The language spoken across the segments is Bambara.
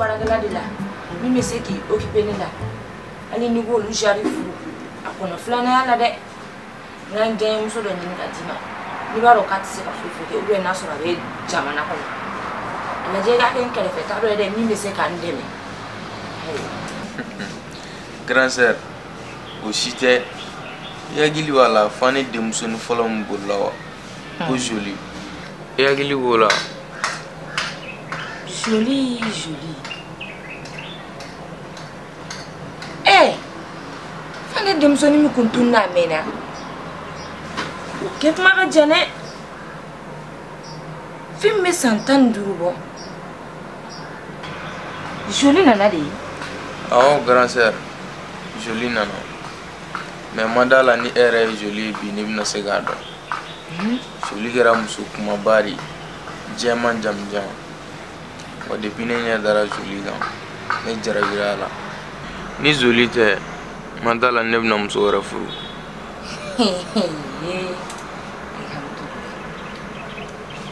baarakɛla de la min bɛ se k'i okipe ne la hali n'i b'olu jari furu a kɔnɔ filananya la dɛ n ka n denmuso dɔ ɲini ka d'i ma n'i b'a dɔn k'a tɛ se ka foyi foyi kɛ ou bien n'a sɔrɔ a bɛ jamana kɔnɔ a lajɛ i k'a kɛ n kɛrɛfɛ ta dɔ ye dɛ min bɛ se ka n dɛmɛ grand sœur o si tɛ i hakili b'a la fane denmusonin fɔlɔ min bolila wa ko ah. joli i hakili b'o la joli joli ee eh, fane denmusonin min kun tununna a mɛnna o kɛ tuma ka jan dɛ fɛn bɛ san tan ni duuru bɔ joli nana de awɔ grand sœur joli nana mais n ma da a la ni e yɛrɛ ye joli ye bi n'i bɛna se k'a dɔn joli kɛra muso kumaba de jɛman jamanjan wa depuis ne ɲɛ dara joli kan ne jarabira a la ni joli tɛ n ma da a la ne bɛna muso wɛrɛ furu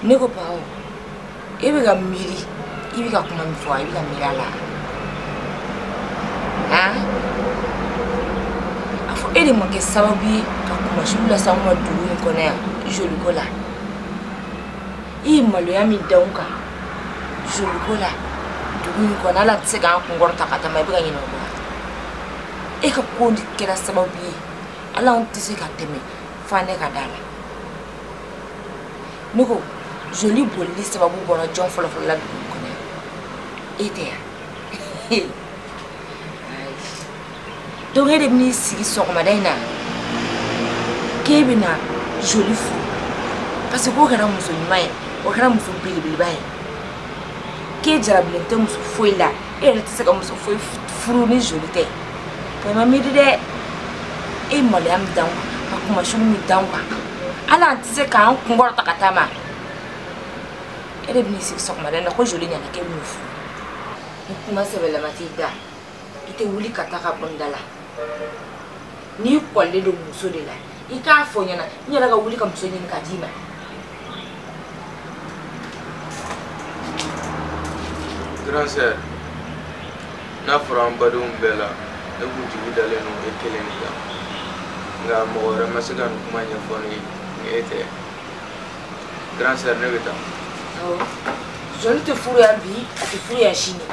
ne ko bawo e bɛ ka miiri i bɛ ka kuma min fɔ i bɛ ka miiri a la han a fɔ e de ma kɛ sababu ye ka kuma sugu lase anw ma dugu in kɔnɔ yan joli ko la i ye maloya min da anw kan joli ko la dugu in kɔnɔ hali an tɛ se k'an kun kɔrɔta ka taama i bɛ ka ɲinɛ o kɔ e ka ko de kɛra sababu ye hali anw tɛ se ka tɛmɛ fane ka da la ne ko joli bolili sababu bɔra jɔn fɔlɔfɔlɔ la dugu kɔnɔ e tɛ yan donc e de bɛn'i sigi sɔgɔmada in na k'e bɛna joli furu parce que k'o kɛra muso ɲuman ye o kɛra muso belebeleba ye k'e jarabilen tɛ muso foyi la e yɛrɛ tɛ se ka muso foyi furu ni joli tɛ bɛɛ ma miiri dɛ e ye maloya min da an kan ka kuma sugu min da an kan hali an tɛ se k'an kun kɔrɔta ka taama e de bɛn'i sigi sɔgɔmada in na ko joli ɲɛna k'e b'o furu ni kuma sɛbɛlama t'i da i tɛ wuli ka taa ka bɔ n da la n'i kɔlilen don muso de la i k'a fɔ n ɲɛ na n yɛrɛ ka wuli ka muso ɲini ka d'i ma grand sœur n'a fɔra an badenw bɛɛ la ne kun jigi dalen don e kelen de kan nka mɔgɔ wɛrɛ ma se ka nin kuma ɲɛfɔ ne ye ni e tɛ grand sœur ne bɛ taa joli tɛ furu yan bi a tɛ furu yan sini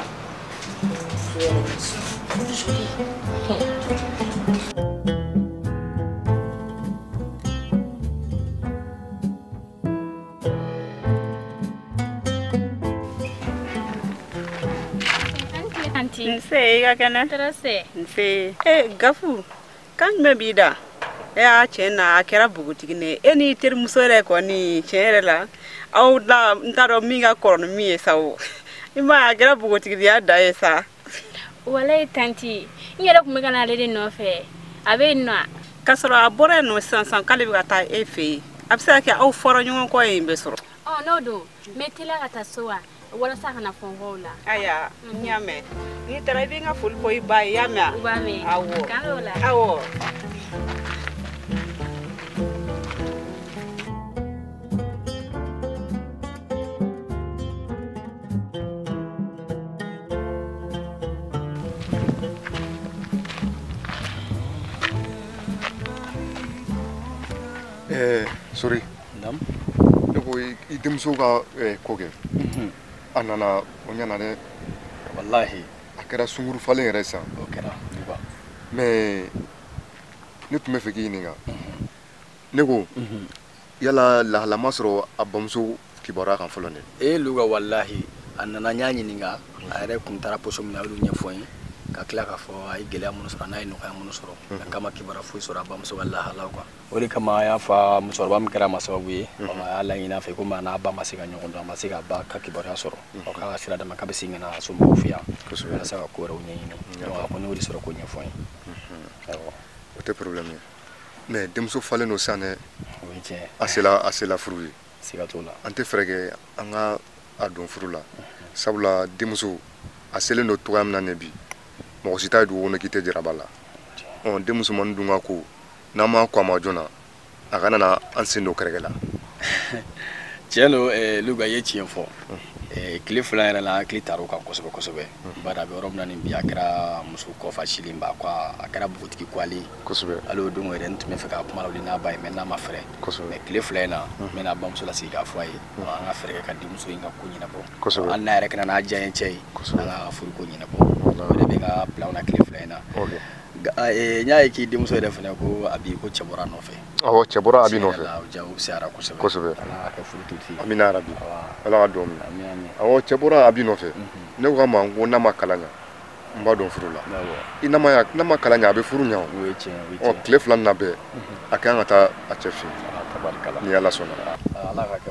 Nse i ka kɛnɛ? Tɔrɔ si tɛ yen. Nse e Gafu. kan jumɛn b'i da e y'a tiɲɛ na a kɛra bogotigi ne e n'i terimuso yɛrɛ kɔni tiɲɛ yɛrɛ la aw la n t'a dɔn min ka kɔrɔ ni min ye sa o i ma a kɛra bogotigiya dan ye sa walayi tanti n yɛrɛ tun bɛ ka na ale de nɔfɛ a bɛ yen nɔ k'a sɔrɔ a bɔra yen nɔ sisan sisan k'ale bɛ ka taa e fɛ yen a bɛ se ka kɛ aw fɔra ɲɔgɔn kɔ yen bɛ sɔrɔ n'o don n bɛ teliya ka taa so wa walasa a kana fɔ n kɔ o la aya n y'a mɛn n'i taara i bɛ n ka foli fɔ i ba ye i y'a mɛn u b'a mɛn awɔ k'an bɛn o la awɔ Eh, Sori. ne ko i denmuso ka eh, ko kɛ mhm. a nana o ɲana dɛ walahi a kɛra sunguru falen ye yɛrɛ san o kɛra mais ne tun b'a fɛ k'i ɲininka mhm. ne ko mhm. yala lahala ma sɔrɔ a bamuso kibaruya kan fɔlɔ dɛ e luga walahi a nana n y'a ɲininka a yɛrɛ kun taara poso min na a y'olu ɲɛfɔ n ye ka tila k'a fɔ a ye gɛlɛya minnu sɔrɔ n'a ye nɔgɔya minnu sɔrɔ a k'a ma kibaruya foyi sɔrɔ a bamuso ka lahalaw quoi o de kama a y'a fɔ musokɔrɔba min kɛra a ma sababu ye mhm. a y'a laɲini a fɛ komi a n'a ba ma se ka ɲɔgɔn dɔn a ma se k'a ba ka kibaruya sɔrɔ mhm. ɔ k'a ka sira d'a ma k'a bɛ segin ka na somɔgɔw fɛ yan walasa ka ko wɛrɛw ɲɛɲini a kɔni y'o de sɔrɔ k'o ɲɛfɔ n ye mhm. o tɛ problème ye mais denmuso falen don sisan dɛ o ye tiɲɛ a sela a sela furu ye siga t'o la an tɛ fɛɛrɛ kɛ an ka a don furu la sabula denmuso a selen don cogoya min na nin bi mɔgɔ si t'a ye dugu kɔnɔ k'i tɛ jarab'a la ɔ denmusomanin dun ka ko n'an ma kɔn a ma joona a kana na an sen don gɛrɛgɛrɛ la tiɲɛ don eh, luga ye tiɲɛ fɔ eh, tile fila yɛrɛ la hakili taar'o kan kosɛbɛ kosɛbɛ bari a bɛ yɔrɔ min na nin bi a kɛra muso kɔfa silen ba quoi a kɛra bogotigi kɔgɔlen kosɛbɛ hali o don yɛrɛ n tun b'a fɛ k'a kuma lawuli n'a ba ye mais n ma fɛrɛ kosɛbɛ mais tile fila in na n bɛna bamuso lasigi k'a fɔ a ye an ka fɛɛrɛ kɛ ka denmuso in ka ko ɲɛnabɔ kosɛbɛ hali n'a yɛrɛ ka na n'a diyanyecɛ ye an ka furu ko ɲɛnabɔ o de bɛ n ka plan na tile fila in na Eh, n y'a ye k'i denmuso yɛrɛ fana ko Abi ko cɛ bɔra a nɔfɛ awɔ cɛ bɔra Abi nɔfɛ jaa ko fisayara kosɛbɛ kosɛbɛ ala k'a kɛ furutigi ye amina yarabi ala ka dugawu minɛ awɔ cɛ bɔra Abi nɔfɛ mhm. ne ko a ma n ko n'a ma kalan ɲa n b'a don furu la i n'a ma n'a ma kalan ɲa a bɛ furu ɲa o tile fila na bɛɛ mhm. a ka kan ka taa a cɛ fɛ yen ni ala sɔnna ala ka kɛ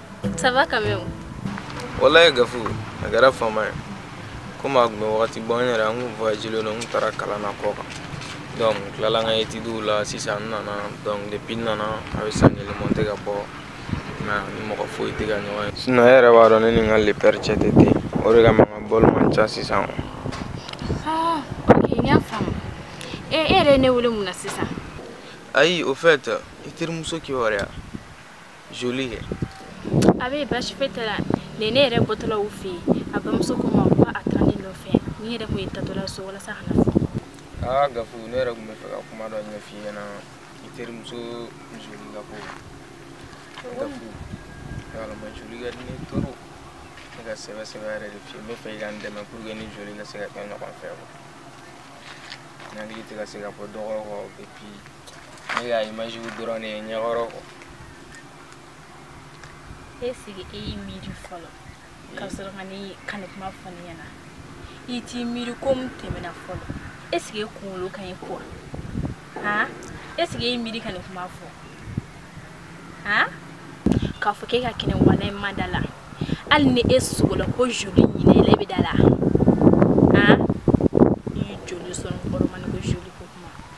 ça va quand même wallahi gafu a kɛra fama ye komi a tun bɛ wagati bɔ n yɛrɛ an kun voyagelen don n tun taara kalan na kɔkan donc n tilala n ka etidiw la sisan n nana donc depuis n nana a bɛ san kelen bɔ n tɛ ka bɔ n ni mɔgɔ foyi tɛ ka ɲɔgɔn ye sinon e yɛrɛ b'a dɔn ne ni n ka le père cɛ tɛ ten o de kama n ka bɔli man ca sisan ah, ok n y'a faamu e e yɛrɛ ye ne wele mun na sisan ayi au fait i terimuso kibaruya joli kɛ a bɛ baasi foyi t'a la nin ne yɛrɛ bɔtɔla u fɛ yen a bamuso ko n ma ko a taara ne nɔfɛ ne yɛrɛ tun ye taatɔla so walasa ka na fɔ aa gafu ne yɛrɛ tun bɛ fɛ ka kuma dɔ ɲɛf'i ɲɛna i terimuso joli ka ko gafu yalama joli ka di n ye trop ne ka sɛbɛ sɛbɛ yɛrɛ de f'i ye n bɛ fɛ i ka n dɛmɛ pour que n ni joli ka se ka kɛ ɲɔgɔn fɛ quoi n hakili tɛ ka se ka bɔ dɔgɔ kɔ et puis ne ka image dɔrɔn de ye n ɲɛkɔrɔ quoi est-ce que e y'i miiri fɔlɔ ka sɔrɔ ka ne ka nin kuma fɔ ne ɲɛna i t'i miiri ko min tɛmɛna fɔlɔ est-ce que e kunkolo ka ɲi quoi han est-ce que e y'i miiri ka nin kuma fɔ han k'a fɔ k'e ka kɛnɛ wallahi n ma da a la hali ni e sugola ko joli ɲinɛ i la i bɛ da a la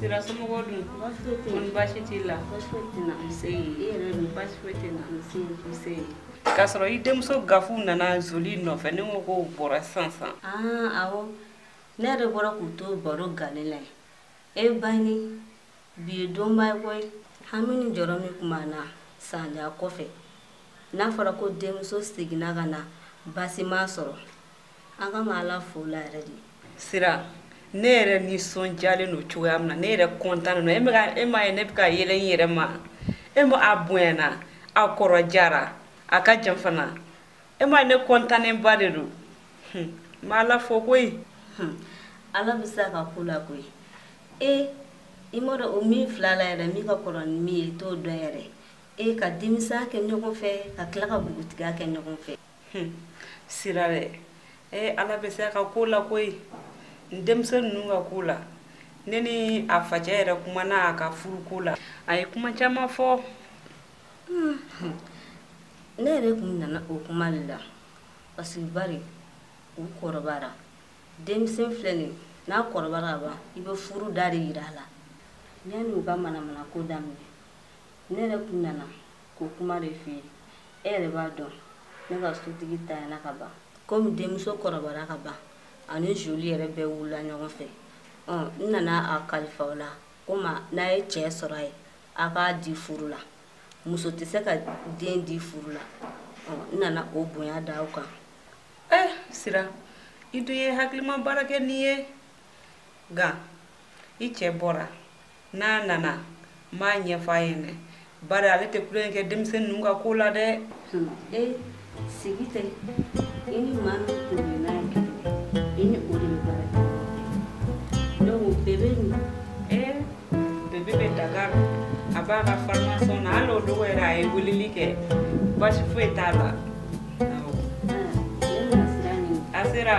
sira somɔgɔw dun kɔni baasi t'i la k'a sɔrɔ i denmuso gafu nana zoli nɔfɛ ne ko k'u bɔra sisan sisan ah, awɔ ne yɛrɛ bɔra k'u to baro gale la e bani bi ye donba ye koyi hami ni jɔrɔ min tun b'an na san jan kɔfɛ n'a fɔra ko denmuso seginna ka na baasi m'a sɔrɔ an ka ma ala fo la yɛrɛ de sira ne yɛrɛ nisɔndiyalen don cogoya min na ne yɛrɛ kɔntan don e bɛ ka e m'a ye ne bɛ ka yɛlɛ n yɛrɛ ma e m'a ye a bonyana a kɔrɔjara a ka jan fana e m'a ye ne kɔntannenba de don n bɛ ala fo koyi ala bɛ se a ka ko la koyi e i m'a dɔn o min fila la yɛrɛ min ka kɔrɔ ni min ye i t'o dɔn yɛrɛ e ka denmisɛnya kɛ ɲɔgɔn fɛ ka tila ka npogotigiya kɛ ɲɔgɔn fɛ hmm. sira dɛ ee eh, ala bɛ se a ka ko la koyi n denmisɛn ninnu ka ko la ne ni a facɛ yɛrɛ kumana a ka furu ko la a ye kuma caman fɔ hmm. ne yɛrɛ kun nana o kuma de la parce que bari u kɔrɔbara denmisɛn fila nin n'a kɔrɔbara ka ban i bɛ furu da de yira a la yanni u ka manamana ko daminɛ ne yɛrɛ kun nana ko kuma de f'i ye e yɛrɛ b'a dɔn ne ka sotigi tanyana ka ban komi denmuso kɔrɔbara ka ban ani julie yɛrɛ bɛɛ wulila ɲɔgɔn fɛ n nana a kalifa aw la komi n'a ye cɛ sɔrɔ a ye a k'a di furu la muso tɛ se ka den di furu la n nana o bonya da aw kan eh sira i dun ye hakilima baara kɛ nin ye nka i cɛ bɔra n'a nana n b'a ɲɛfɔ a ye dɛ bari ale tɛ tulonkɛ kɛ denmisɛnnin ninnu ka ko la dɛ e sigi tɛ i ni maa min tun bɛ n'a ye i ni o de bɛ baara kɛ donc bebe nin e bebe bɛ dakar a b'a ka formation na hali o dogo yɛrɛ a ye weleli kɛ baasi foyi t'a la a sera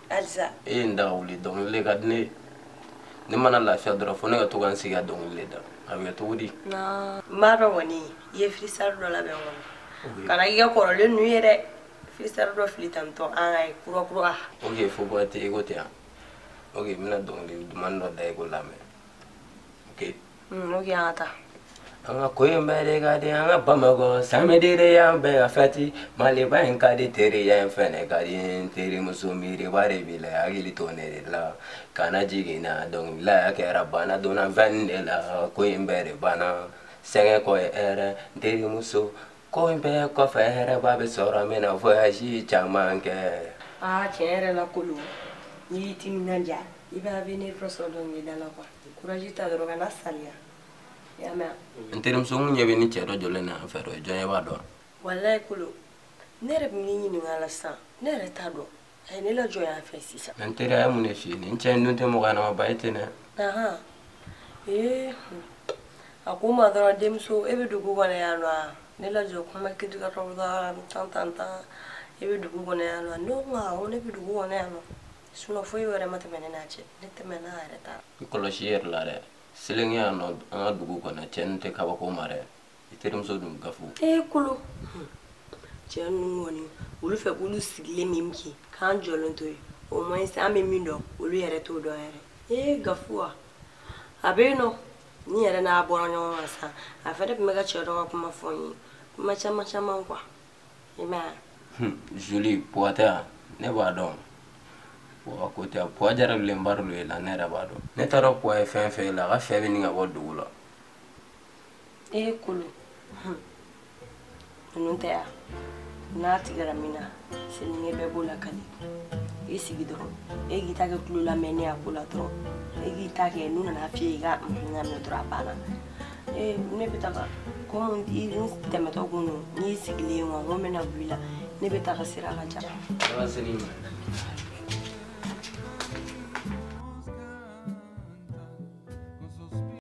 halisa e ye n daga wuli dɔnkili le ka di ne ye ne mana lafiya dɔrɔn fo ne ka to ka n sigi ka dɔnkili le da a bɛ kɛ cogo di n b'a dɔn kɔni i ye freestyle dɔ labɛn kɔni kana k'i ka kɔrɔlen nu ye dɛ freestyle dɔ fili tantɔ an k'a ye kura kura ok fo kura tɛ i ko tɛ yan ok n bɛna dɔnkili duman dɔ da i k'o lamɛn ok Mm, ok an ka taa. an ka ko in bɛɛ de ka di an ka bamakɔ samedi de y'an bɛɛ ka fɛti maliba in ka di teriya in fɛnɛ ka di n terimuso miiriba de b'i la hakili to ne de la kana jigin na dɔnkililaya kɛra bana donna veine de la ko in bɛɛ de banna sɛgɛn kɔ ye hɛrɛ n terimuso ko in bɛɛ kɔfɛ hɛrɛba bɛ sɔrɔ n bɛna voyage caman kɛ aa tiɲɛ yɛrɛ la kolo n'i y'i timinanja i bɛ avenir dɔ sɔrɔ dɔnkilida la quoi courage ta dɔrɔn kana saliya i y'a mɛn n terimuso n ɲɛ b'i ni cɛ dɔ jɔlen na yan fɛ o ye jɔn ye b'a dɔn walayi kolo ne yɛrɛ bɛ min ɲininka la sisan ne yɛrɛ t'a dɔn a ye ne lajɔ yan fɛ sisan n teri a ye mun de f'i ye nin cɛ in dun tɛ mɔgɔ ɲɛnamaba ye ten dɛ ahan ee a ko n ma dɔrɔn denmuso e bɛ dugu kɔnɔ yan nɔ wa ne lajɔ kuma kiti ka tɔgɔ tan tan tan e bɛ dugu kɔnɔ yan nɔ ne ko n ko awɔ ne bɛ dugu kɔnɔ yan nɔ sinon foyi wɛrɛ ma tɛmɛ ne n'a cɛ ne tɛmɛna yɛrɛ ta i kɔlɔsi i yɛrɛ la dɛ selenge yan nɔ an ka dugu kɔnɔ cɛ ninnu tɛ kabako ma dɛ i terimuso dun gafu ee kolo cɛ ninnu kɔni olu fɛ k'olu sigilen min kɛ k'an jɔlen t'o ye o ma ɲi an bɛ min dɔn olu yɛrɛ t'o dɔn yɛrɛ ee gafu wa a bɛ yen nɔ ne yɛrɛ n'a bɔra ɲɔgɔn kan sisan a fɛnɛ tun bɛ ka cɛ dɔ ka kuma fɔ n ye kuma caman caman quoi i m'a ye julie puwa tɛ yan ne b'a dɔn puwa ko tɛ puwa jarabilenba de ye la ne yɛrɛ b'a dɔn ne t'a dɔn puwa ye fɛn fɛn ye la a ka fɛn bɛ nin ka bɔ dugu la e ye kolo ninnu tɛ yan n'a tigɛra min na selenge bɛɛ b'o lakali i sigi dɔrɔn e k'i ta kɛ tulo lamɛn ne y'a ko la dɔrɔn e k'i ta kɛ n'u nana f'i ye i ka ɲamɛ dɔrɔn a banna ee ne bɛ taga komi i tɛmɛtɔ kun don n'i sigilen ye wa n ko n bɛna bɔ i la ne bɛ taga sira ka ca.